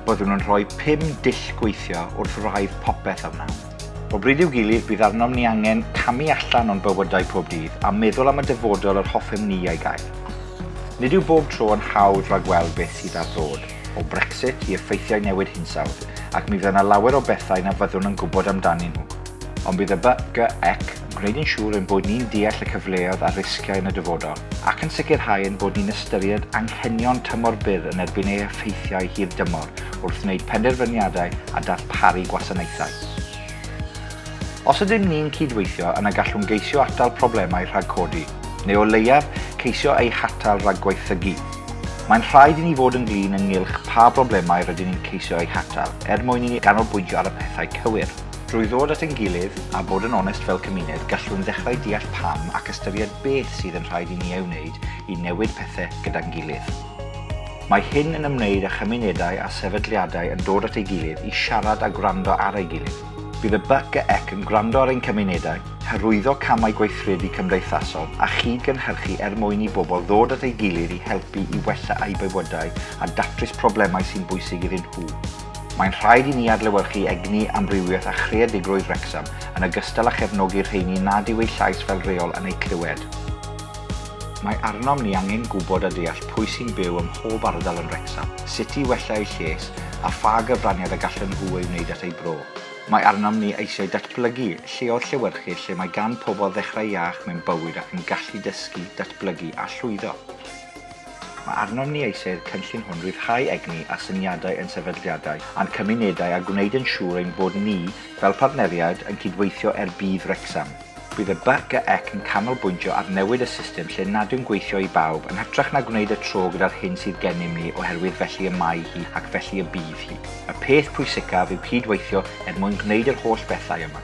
Byddwn yn rhoi pum dull gweithio wrth wraidd popeth a wnawn. O bryd i'w gilydd, bydd arnom ni angen camu allan o'n bywydau pob dydd a meddwl am y dyfodol yr hoffem ni ei gael. Nid yw bob tro yn hawdd ragweld beth sydd ar ddod, o Brexit i effeithiau newid hinsawdd, ac mi fydd yna lawer o bethau na fyddwn yn gwybod amdanyn nhw. Ond bydd y BGEC yn gwneud yn siŵr ein bod ni'n deall y cyfleoedd a'r risgiau yn y dyfodol, ac yn sicrhau ein bod ni'n ystyried anghenion tymor byr yn erbyn ei effeithiau hir dymor wrth wneud penderfyniadau a darparu gwasanaethau. Os ydym ni'n cydweithio, yna gallwn geisio atal problemau rhag codi, neu o leiaf, ceisio eu hatal rhag gwaethygu. Mae'n rhaid i ni fod yn flin ynghylch pa broblemau rydyn ni'n ceisio eu hatal, er mwyn i ni ganolbwyntio ar y pethau cywir. Drwy ddod at ein gilydd a bod yn onest fel cymuned, gallwn ddechrau deall pam ac ystyried beth sydd yn rhaid i ni ei wneud i newid pethau gyda'n gilydd. Mae hyn yn ymwneud â chymunedau a sefydliadau yn dod at ei gilydd i siarad a gwrando ar ei gilydd. Bydd y BCEC yn gwrando ar ein cymunedau, hyrwyddo camau gweithredu cymdeithasol a chyd-gynhyrchu er mwyn i bobl ddod at ei gilydd i helpu i wella eu bywydau a datrys problemau sy'n bwysig iddyn nhw. Mae'n rhaid i ni adlewyrchu egni, amrywiaeth a chreadigrwydd Wrecsam, yn ogystal â chefnogi'r rheini nad yw eu llais fel rheol yn eu clywed. Mae arnom ni angen gwybod a deall pwy sy'n byw ym mhob ardal yn Wrecsam, sut i wella eu lles a pha gyfraniad y gallen nhw ei wneud at eu bro. Mae arnom ni eisiau datblygu lleoedd llewyrchus lle mae gan pobl ddechrau iach mewn bywyd ac yn gallu dysgu, datblygu a llwyddo. Mae arnom ni eisiau'r cynllun hwn ryddhau egni a syniadau ein sefydliadau a'n cymunedau a gwneud yn siŵr ein bod ni, fel partneriaid, yn cydweithio er budd Wrecsam. Bydd y BCEC yn canolbwyntio ar newid y system lle nad yw'n gweithio i bawb, yn hytrach na gwneud y tro gyda'r hyn sydd gennym ni oherwydd felly y mae hi ac felly y bydd hi. Y peth pwysicaf yw cyd-weithio er mwyn gwneud yr holl bethau yma.